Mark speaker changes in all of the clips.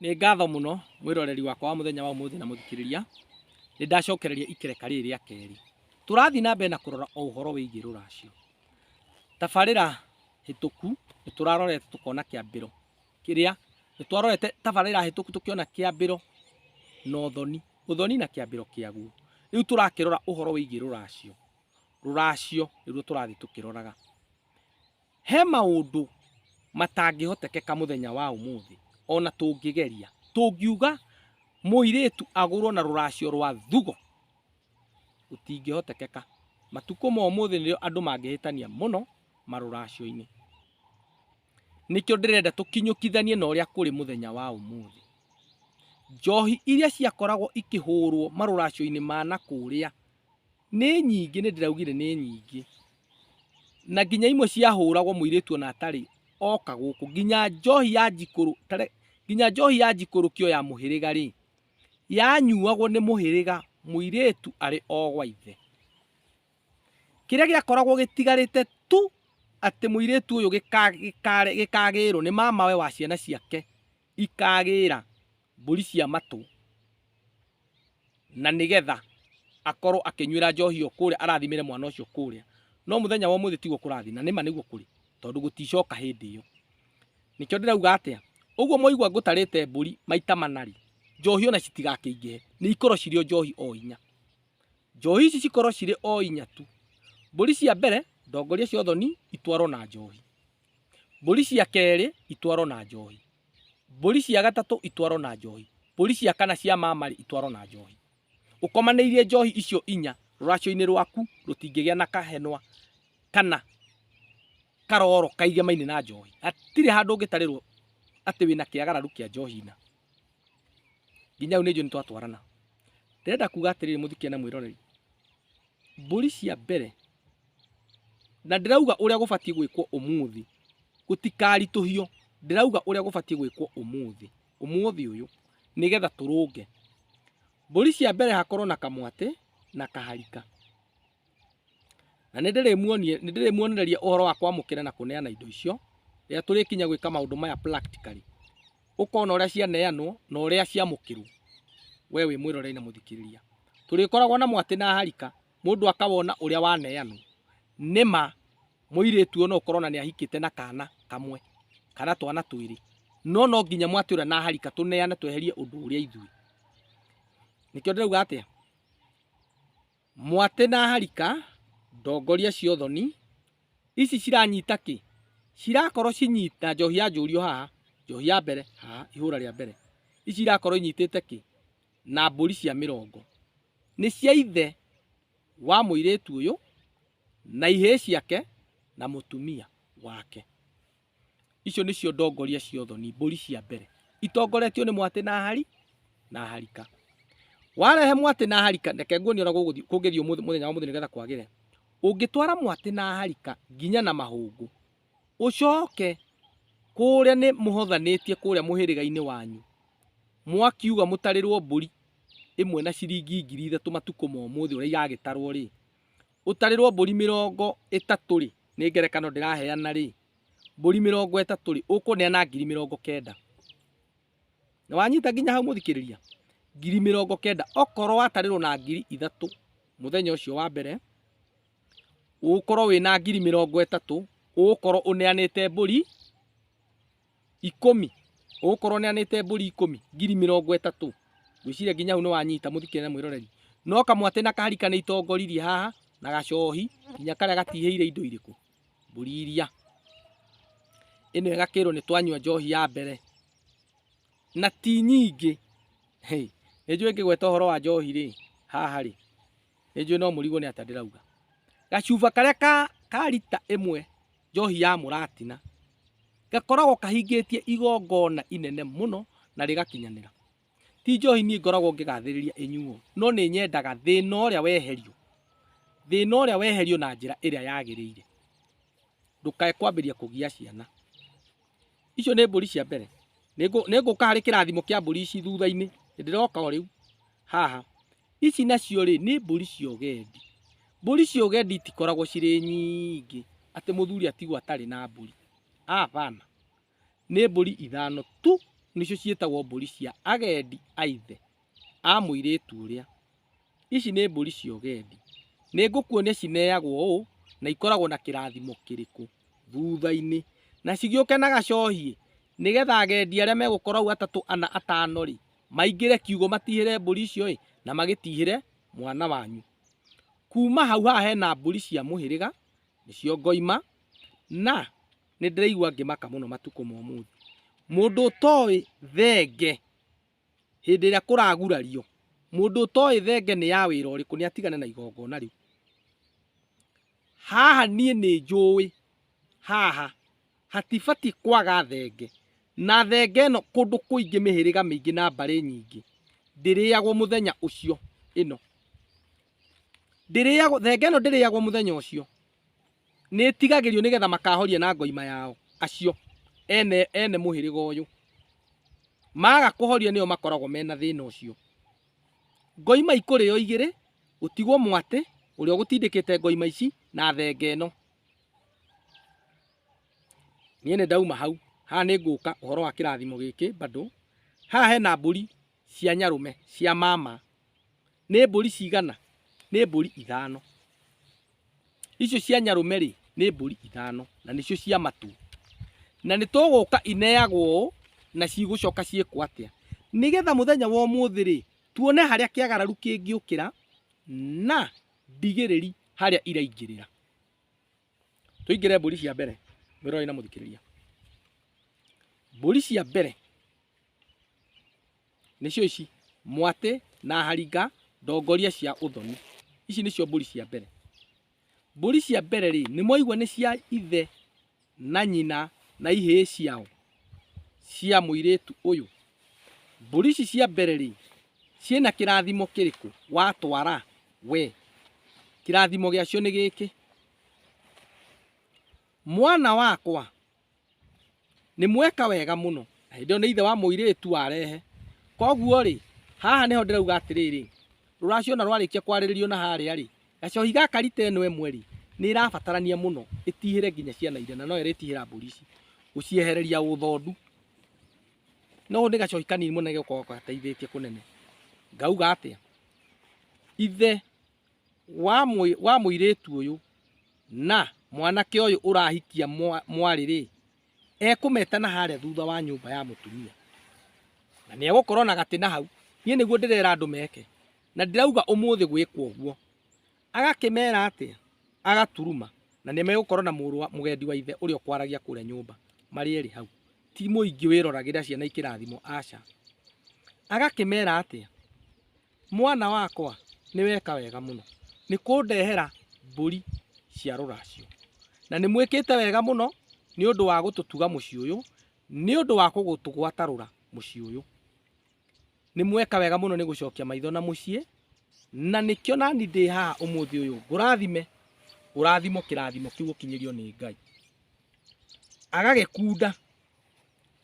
Speaker 1: Nĩ ngatho mũno mwĩroreri wakwa wa mũthenya wa ũmũthĩ na mũthikĩrĩria, nĩ ndacokereria ikereka rĩrĩ rĩa kerĩ. Tũrathiĩ na mbere na kũrora o ũhoro wĩgiĩ rũracio. Tabarĩra hĩtũku nĩ tũrarorete tũkona kĩambĩro kĩrĩa, nĩ twarorete tabarĩra hĩtũku tũkĩona kĩambĩro na ũthoni, ũthoni na kĩambĩro kĩaguo. Rĩu tũrakĩrora ũhoro wĩgiĩ rũracio, rũracio nĩruo tũrathiĩ tũkĩroraga. He maũndũ matangĩhotekeka mũthenya wa ũmũthĩ, o na tũngĩgeria. Tũngiuga mũirĩtu agũrwo na rũracio rwa thugo, gũtingĩhotekeka. Matukũ ma ũmũthĩ nĩrĩo andũ mangĩhĩtania mũno marũracio-inĩ. Nĩkĩo ndĩrenda tũkinyũkithanie na ũrĩa kũrĩ mũthenya wa ũmũthĩ. Njohi iria ciakoragwo ikĩhũrwo marũracio-inĩ ma nakũrĩa Nĩ nyingĩ, nĩ ndĩraugire nĩ nyingĩ. Na nginya imwe ciahũragwo mũirĩtu ona atarĩ oka gũkũ. Nginya njohi ya njikũrũ, tare, nginya njohi ya njikũrũkio ya mũhĩrĩga rĩ, yanyuagwo nĩ mũhĩrĩga mũirĩtu arĩ o gwa ithe. Kĩrĩa gĩakoragwo gĩtigarĩte tu atĩ mũirĩtu ũyũ gĩka, gĩka, gĩkagĩrwo nĩ mamawe wa ciana ciake ikagĩra mbũri cia matũ na nĩgetha akorwo akĩnyuĩra njohi ĩyo kũrĩa arathimĩre mwana ũcio kũrĩa no mũthenya wa ũmũthĩ tiguo kũrathiĩ na nĩma nĩguo kũrĩ tondũ gũticoka hĩndĩ ĩyo nĩkĩo ndĩrauga atĩa ũguo mwaigua ngũtarĩte mbũri maita manari njohi ona citigakĩingĩhe nĩ ikorwo cirĩ o njohi o inya njohi ici cikorwo cirĩ o inya tu mbũri cia mbere ndongoria cia ũthoni itwarwo na njohi Mbũri cia kerĩ itwarwo na njohi. Mbũri cia gatatũ itwarwo na njohi. Mbũri cia kana cia mamarĩ itwarwo na njohi. Ũkomanĩirie njohi icio inya rũracio-inĩ rwaku rũtingĩgĩa na kahenwa kana karoro kaigemaine na njohi. Hatirĩ handũ ũngĩtarĩrwo atĩ wĩna kĩagararu kĩa njohi na nginya rĩu nĩ njũĩ nĩ twatwarana. Ndĩrenda kuga atĩrĩrĩ mũthikia na mwĩroreri, mbũri cia mbere na ndĩrauga ũrĩa gũbatiĩ gwĩkwo ũmũthĩ gũtikaritũhio ndĩrauga ũrĩa gũbatiĩ gwĩkwo ũmũthĩ ũmũthĩ ũyũ nĩgetha tũrũnge mbũri cia mbere hakorwo na kamwatĩ na kaharika na nĩ ndĩrĩmuonie nĩ ndĩrĩmuonereria ũhoro wa kwamũkĩra na kũneana indo icio rĩrĩa tũrĩkinya gwĩka maũndũ maya practically ũkona ũrĩa cianeanwo na ũrĩa ciamũkĩrwo we wĩ mwĩrorei na mũthikĩrĩria tũrĩkoragwo na mwatĩ na harika mũndũ akawona ũrĩa waneanwo nĩ ma mũirĩtu ona ũkorwo na nĩ ahikĩte na kana kamwe kana twana twĩrĩ no no nginya mwatĩ ũrĩa naharika tũneane tweherie ũndũ ũrĩa ithuĩ nĩkĩo ndĩrauga atĩa mwatĩ na harika ndongoria cia ũthoni ici ciranyita kĩ cirakorwo cinyita njohi ya njũrio haha njohi ya mbere haha ihũra rĩa mbere ici irakorwo inyitĩte kĩ na mbũri cia mĩrongo nĩ cia ithe wa mũirĩtu ũyũ na ihĩĩ ciake na mũtumia wake. Icio nĩcio ndongoria cia ũthoni, mbũri cia mbere, itongoretio nĩ mwatĩ na hari na harika. Warehe mwatĩ na harika, reke nguonie ũrĩa gũgũthiĩ- kũngĩthiĩ ũmũthĩ- mũthenya wa ũmũthĩ nĩgetha kwagĩre. Ũngĩtwara mwatĩ na harika nginya na mahũngũ, ũcooke kũũrĩa nĩ mũhothanĩtie kũũrĩa mũhĩrĩga-inĩ wanyu, mwakiuga mũtarĩrwo mbũri ĩmwe na ciringi ngiri ithatũ matukũ ma ũmũthĩ ũrĩa iragĩtarwo rĩ, ũtarĩrwo mbũri mĩrongo ĩtatũ rĩ, nĩ ngerekano ndĩraheana rĩ, mbũri mĩrongo ĩtatũ rĩ, ũkũneana ngiri mĩrongo kenda. Nĩ wanyita nginya hau mũthikĩrĩria? Ngiri mĩrongo kenda. Okorwo watarĩrwo na ngiri ithatũ mũthenya ũcio wa mbere, ũgũkorwo wĩna ngiri mĩrongo ĩtatũ, ũgũkorwo ũneanĩte mbũri ikũmi, ũgũkorwo ũneanĩte mbũri ikũmi, ngiri mĩrongo ĩtatũ. Ngwĩciria nginya hau nĩwanyita mũthikĩria na mwĩroreri. No kamwatĩ na kahari kanĩitongoririe haha, na gacohi, nginya karĩa gatihĩire indo irĩkũ? Mbũri iria. Ĩno ĩgakĩrwo nĩtwanyua njohi ya mbere, na ti nyingĩ. Nĩnjũĩ ngĩgweta ũhoro wa njohi-rĩ, haha-rĩ. nĩ njũĩ no mũrigwo nĩ atĩa ndĩrauga gacuba karĩa ka, ka rita ĩmwe njohi ya mũratina gakoragwo kahingĩtie igongona inene mũno na rĩgakinyanĩra ti njohi niĩ ngoragwo ngĩgathĩrĩria ĩnyuo no nĩ nyendaga thĩna ũrĩa weherio thĩna ũrĩa weherio na njĩra ĩrĩa yagĩrĩire ndũkae kwambĩrĩria kũgia ciana icio nĩ mbũri cia mbere Nĩngũ- nĩngũka harĩ kĩrathimo kĩa mbũri ici thutha-inĩ ndĩroka o rĩu haha ici nacio rĩ nĩ mbũri cia ũgendi mbũri cia ũgendi itikoragwo cirĩ nyingĩ atĩ mũthuri atigwo atarĩ na mbũri abana nĩ mbũri ithano tu nĩcio ciĩtagwo mbũri cia agendi a ithe a mũirĩtu ũrĩa Ici nĩ mbũri cia ũgendi. Nĩ ngũkuonia cineagwo ũũ na ikoragwo na kĩrathimo kĩrĩkũ thutha-inĩ. Na cigĩũke na gacohie nĩgetha agendi arĩa megũkorwo hau atatũ, ana, atano rĩ, maingĩre kiugũ matihĩre mbũri icio ĩ, na magĩtihĩre mwana wanyu. Kuma hau haha hena mbũri cia mũhĩrĩga, nĩcio ngoima, na nĩ ndĩraigua ngĩmaka mũno matukũ ma ũmũthĩ. Mũndũ ũtoĩ thenge Hĩndĩ ĩrĩa kũragurario, mũndũ ũtoĩ thenge nĩ ya wĩra ũrĩkũ nĩ atigane na igongona rĩu. Haha niĩ nĩ njũĩ haha hatibatiĩ kwaga thenge, na thenge ĩno kũndũ kũingĩ mĩhĩrĩga mĩingĩ na mbarĩ nyingĩ ndĩrĩagwo mũthenya ũcio ĩno. Thenge ĩno ndĩrĩagwo mũthenya ũcio, nĩtigagĩrio nĩgetha makahoria na ngoima yao acio ene ene mũhĩrĩga ũyũ maga kũhoria nĩo makoragwo mena thĩna ũcio ngoima ikũrĩo igĩrĩ gũtigwo mwatĩ ũrĩa ũgũtindĩkĩte ngoima ici na thenge ĩno niĩ nĩ ndauma hau haha nĩ ngũka ũhoro wa kĩrathimo gĩkĩ bado haha hena mbũri cia nyarũme cia mama Nĩ mbũri cigana? Nĩ mbũri ithano. Icio cia nyarũme rĩ, nĩ mbũri ithano na nĩcio cia matũ. Na nĩ tũgũka ineagwo ũũ na cigũcoka ciĩkwo atĩa? Nĩgetha mũthenya wa ũmũthĩ rĩ, tuone harĩa kĩagararu kĩngĩũkĩra na ndigĩrĩri harĩa iraingĩrĩra. Tũingĩre mbũri cia mbere, mwĩroreri na mũthikĩrĩria. Mbũri cia mbere nĩcio ici mwatĩ na haringa ndongoria cia ũthoni ici nĩcio mbũri cia mbere mbũri cia mbere rĩ nĩ mwaigua nĩ cia ithe na nyina na ihĩĩ ciao cia mũirĩtu ũyũ mbũri ici cia mbere rĩ ciĩna kĩrathimo kĩrĩkũ watwara we kĩrathimo gĩacio nĩ gĩkĩ mwana wakwa nĩ mweka wega mũno na hĩndĩ ĩyo nĩ ithe wa mũirĩtu warehe koguo rĩ haha nĩho ndĩrauga atĩrĩrĩ rũracio na rwarĩkia kwarĩrĩrio na harĩa rĩ gacohi gaka rita ĩno ĩmwe rĩ nĩ ĩrabatarania mũno ĩtihĩre nginya ciana iria na no ĩrĩtihĩra mbũri ici gũciehereria ũthondu no nĩ gacohi kanini mũno gĩkoragwo gateithĩtie kũnene ngauga atĩa ithe wa mũirĩtu ũyũ na mwanake ũyũ ũrahikia mwarĩ rĩ, ekũmeta na harĩa thutha wa nyũmba ya mũtumia na nĩ egũkorwo na gatĩ na hau. Niĩ nĩguo ndĩrera andũ meke na ndirauga ũmũthĩ gwĩkwo ũguo. Agakĩmera atĩa? Agaturuma na nĩ megũkorwo na mũgendi wa ithe ũrĩa ũkwaragia kũrĩa nyũmba marĩ erĩ hau. Ti mũingĩ wĩroragĩra ciana ikĩrathimwo, aca. Agakĩmera atĩa? Mwana wakwa nĩ weka wega mũno nĩ kũndehera mbũri cia rũracio, na nĩ mwĩkĩte wega mũno nĩ ũndũ wa gũtũtuga mũciĩ ũyũ, nĩ ũndũ wa gũtũgwata rũra mũciĩ ũyũ. Nĩ mweka wega mũno nĩ gũcokia maitho na mũciĩ, na nĩkĩo nani ndĩ haha ũmũthĩ ũyũ ngũrathime, ngũrathimo kĩrathimo kĩu ũkinyĩrio nĩ Ngai. Agagĩkunda.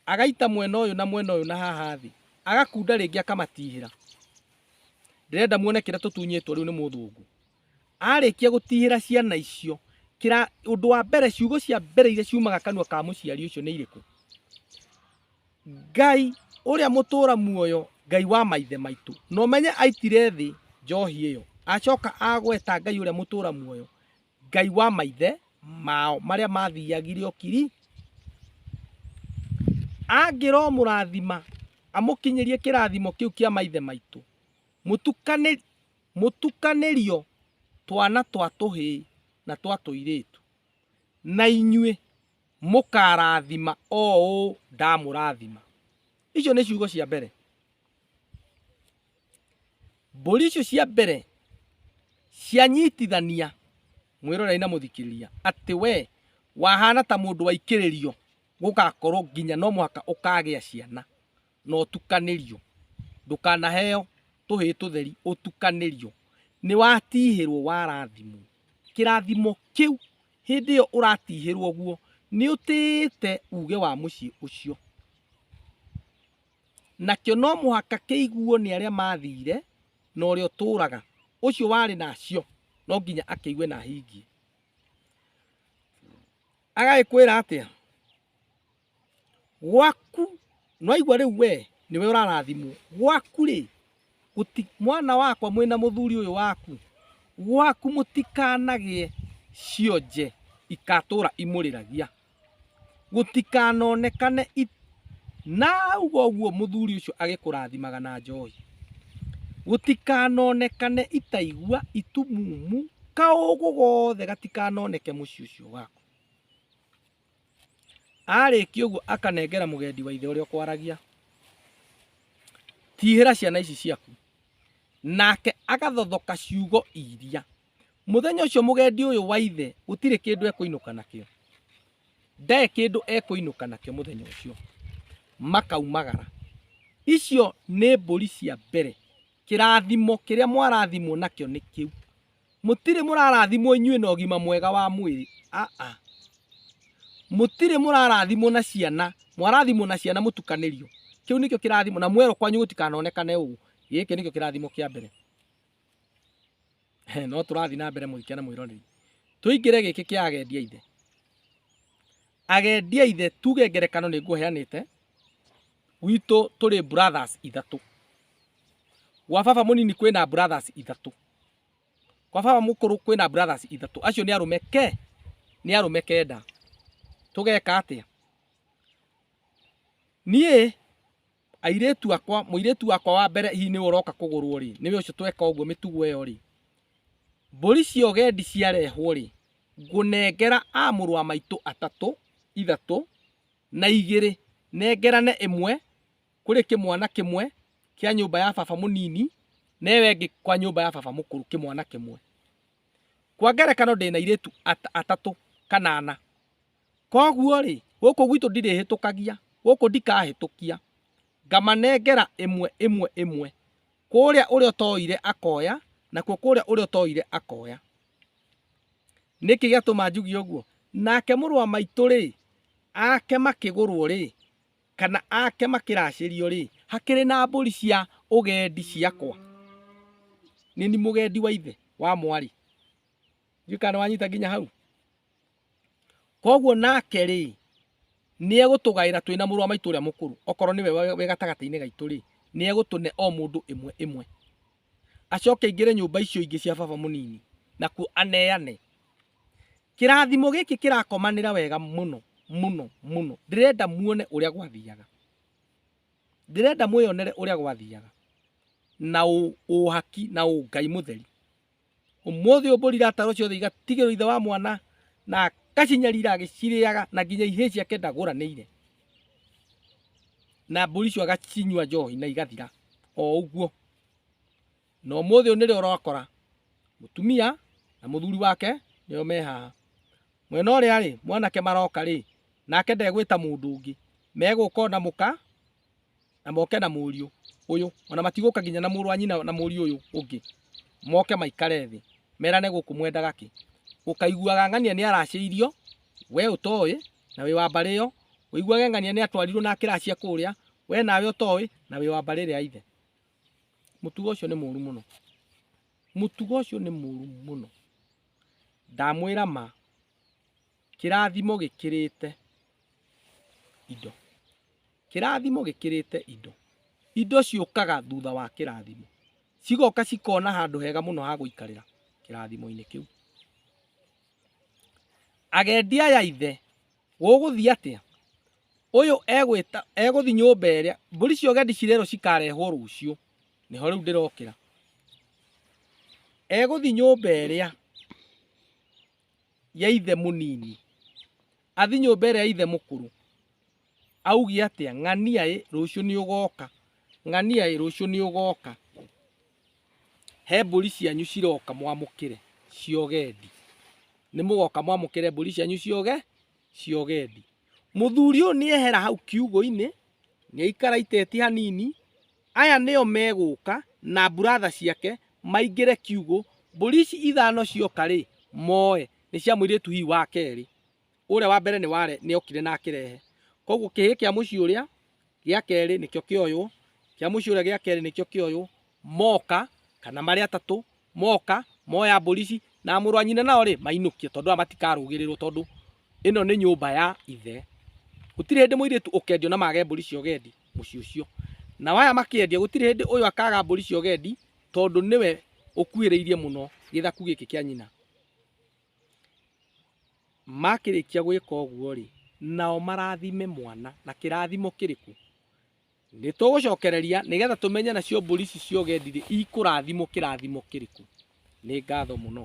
Speaker 1: Agaita mwena ũyũ na mwena ũyũ na haha thĩ, agakunda rĩngĩ akamatihĩra. Ndĩrenda muone kĩrĩa tũtunyĩtwo rĩu nĩ mũthũngũ. Arĩkia gũtihĩra ciana icio, kĩra ũndũ wa mbere ciugo cia mbere iria ciumaga kanua ka mũciari ũcio nĩ irĩkũ? Ngai ũrĩa mũtũra muoyo, Ngai wa maithe maitũ. Na ũmenye aitire thĩ njohi ĩyo, acoka agweta Ngai ũrĩa mũtũra muoyo, Ngai wa maithe mao marĩa mathiagire okiri angĩromũrathima amũkinyĩrie kĩrathimo kĩu kĩa maithe maitũ mũtukanĩrio twana twa tũhĩĩ na twa tũirĩtu na inyuĩ mũkarathima o ũũ ndamũrathima. Icio nĩ ciugo cia mbere. Mbũri icio cia mbere cianyitithania mwĩroreri na mũthikĩrĩria atĩ we wahana ta mũndũ waikĩrĩrio gũgakorwo nginya no mũhaka ũkagĩa ciana na ũtukanĩrio ndũkanaheo tũhĩĩ tũtheri ũtukanĩrio nĩ watihĩrwo warathimwo kĩrathimo kĩu hĩndĩ ĩyo ũratihĩrwo guo nĩ ũtĩĩte uge wa mũciĩ ũcio. Nakĩo no mũhaka kĩiguo nĩ arĩa maathiire, na ũrĩa ũtũũraga. Ũcio warĩ nacio no nginya akĩigue na ahingie. Agagĩkwĩra atĩa? Gwaku, nĩwaigua rĩu wee nĩwe ũrarathimwo. Gwaku-rĩ, Guti, mwana wakwa mwĩ na mũthuri ũyũ waku gwaku mũtikanagĩe cionje ikatũra imũrĩragia gũtikanonekane i... na auga ũguo mũthuri ũcio agĩkũrathimaga na njohi gũtikanonekane itaigua itumumu kaũgũ gothe gatikanoneke mũciĩ ũcio waku arĩkia ũguo akanengera mũgendi wa ithe ũrĩa ũkwaragia tihĩra ciana ici ciaku nake agathothoka ciugo iria muthenya ucio mugendi uyu wa ithe gutire kindu ekuinuka nakio ndae kindu ekuinuka nakio muthenya ucio makaumagara icio ni mburi cia mbere kirathimo kiria mwarathimwo nakio ni kiu Mũtirĩ mũrarathimwo inyuĩ na ũgima mwega wa mwĩrĩ. Aa. Mũtirĩ mũrarathimwo na ciana. Mwarathimwo na ciana mũtukanĩrio. Kĩu nĩkĩo kĩrathimo na mwerũ kwanyu gũtikanonekane ũũ. Gĩkĩ nĩkĩo kĩrathimo kĩa mbere. No tũrathiĩ na mbere mũrikĩa na mwĩroreri. Tũingĩre gĩkĩ kĩa agendi aithe. Agendi aithe tuge ngerekano nĩ ngũheanĩte gwitũ tũrĩ brothers ithatũ. Gwa baba mũnini kwĩna brothers ithatũ. Kwa baba mũkũrũ kwĩna brothers ithatũ. Acio nĩ arũme ke, nĩ arũme kenda. Tũgeka atĩa? Niĩ airĩtu akwa, mũirĩtu wakwa wa mbere hihi nĩwe ũroka kũgũrwo rĩ, nĩwe ũcio tweka ũguo mĩtugo ĩyo rĩ, mbũri cia ũgendi ciarehwo rĩ, ngũnengera a mũrũ wa maitũ atatũ, ithatũ na igĩrĩ, nengerane ĩmwe. kũrĩ kĩmwana kĩmwe kĩa nyũmba ya baba mũnini na ĩyo ĩngĩ kwa nyũmba ya baba mũkũrũ kĩmwana kĩmwe. Kwa ngerekano ndĩ na irĩtu atatũ kana ana. Koguo-rĩ, gũkũ gwitũ ndirĩhĩtũkagia, gũkũ ndikahĩtũkia, ngamanengera ĩmwe ĩmwe ĩmwe, kũrĩa ũrĩa ũtoire akoya, nakuo kũrĩa ũrĩa ũtoire akoya. Nĩkĩ gĩatũma njuge ũguo? Nake mũrũ wa maitũ-rĩ, ake makĩgũrwo-rĩ, kana ake makĩracĩrio-rĩ, hakĩrĩ na mbũri cia ũgendi ciakwa. Nĩ ni mũgendi wa ithe wa mwarĩ. Ndiũĩ kana nĩwanyita nginya hau. Koguo nake-rĩ, nĩegũtũgaĩra twĩ na mũrũ wa maitũ ũrĩa mũkũrũ, okorwo nĩwe wĩ gatagatĩ-inĩ gaitũ-rĩ, nĩegũtũne o mũndũ ĩmwe ĩmwe. acoke aingĩre nyũmba icio ingĩ cia baba mũnini nakuo aneane kĩrathimo gĩkĩ kĩrakomanĩra wega mũno mũno mũno ndĩrenda muone ũrĩa gwathiaga ndĩrenda mwĩyonere ũrĩa gwathiaga na ũ- ũhaki na ũngai mũtheri Ũmũthĩ ũmbũrire ataro ciothe igatigĩrwo ithe wa mwana na akacinyarira agĩcirĩaga na nginya ihĩĩ ciake ndagũranĩire na mbũri icio agacinyua njohi na igathira o ũguo na ũmũthĩ ũnĩrĩ ũrakora mũtumia na mũthuri wake nĩo me haha mwena ũrĩa rĩ mwanake maroka rĩ nake ndegwĩta mũndũ ũngĩ megũka ona mũka na moke na mũriũ ũyũ ona matigũka nginya na mũrũ wa nyina na mũriũ ũyũ ũngĩ moke maikare thĩ merane gũkũ mwendaga kĩ ũkaiguaga ng'ania nĩ aracĩirio we ũtoĩ na wĩ wa mbarĩ ĩyo ũiguage ng'ania nĩ atwarirwo na akĩracia kũrĩa we nawe ũtoĩ na wĩ wa mbarĩ ĩrĩa ya ithe mũtugo ũcio nĩ mũru mũno mũtugo ũcio nĩ mũru mũno ndamwĩra ma Kĩrathimo gĩkĩrĩte indo. Kĩrathimo gĩkĩrĩte indo. Indo ciũkaga thutha wa kĩrathimo. Cigoka cikona handũ hega mũno ha gũikarĩra kĩrathimo-inĩ kĩu. Agendi aya ithe, gũgũthiĩ atĩa? Ũyũ egwĩta egũthiĩ nyũmba ĩrĩa, mbũri cia ũgendi cirerwo cikarehwo rũciũ. Nĩho rĩu ndĩrokĩra. Egũthiĩ nyũmba ĩrĩa ya ithe mũnini athi nyũmba ĩrĩa ya ithe mũkũrũ auge atĩa ng'ania ĩ rũciũ nĩ ũgoka ng'ania ĩ rũciũ nĩ ũgoka he mbũri cianyu ciroka mwamũkĩre ciogendi nĩ mũgoka mwamũkĩre mbũri cianyu cioge ciogendi mũthuri ũyũ nĩ ehera hau kiugũ-inĩ nĩ aikara iteti hanini Aya nĩo megũka na mburatha ciake maingĩre kiugũ, mbũri ici ithano cioka-rĩ, moe. Nĩ cia mũirĩtu hihi wa kerĩ. Ũrĩa wa mbere nĩ okire na akĩrehe. Kwoguo kĩhĩĩ kĩa mũciĩ ũrĩa gĩa kerĩ nĩkĩo kĩoywo, kĩa mũciĩ ũrĩa gĩa kerĩ nĩkĩo kĩoywo, moka kana marĩ atatũ, moka moya mbũri ici na mũrũ wa nyina nao rĩ mainũkio tondũ aya matikarũgĩrĩrwo tondũ ĩno nĩ nyũmba ya ithe gũtirĩ hĩndĩ mũirĩtu ũkendio na mage mbũri cia ũgendi mũciĩ ũcio nao aya makĩendia gũtirĩ hĩndĩ ũyũ akaga mbũri cia ũgendi tondũ nĩwe ũkuhĩrĩirie mũno gĩthaku gĩkĩ kĩa nyina makĩrĩkia gwĩka ũguo rĩ nao marathime mwana na kĩrathimo kĩrĩkũ Nĩ tũgũcokereria nĩgetha tũmenye nacio mbũri ici cia ũgendi-rĩ ikũrathimwo kĩrathimo kĩrĩkũ. Nĩ ngatho mũno.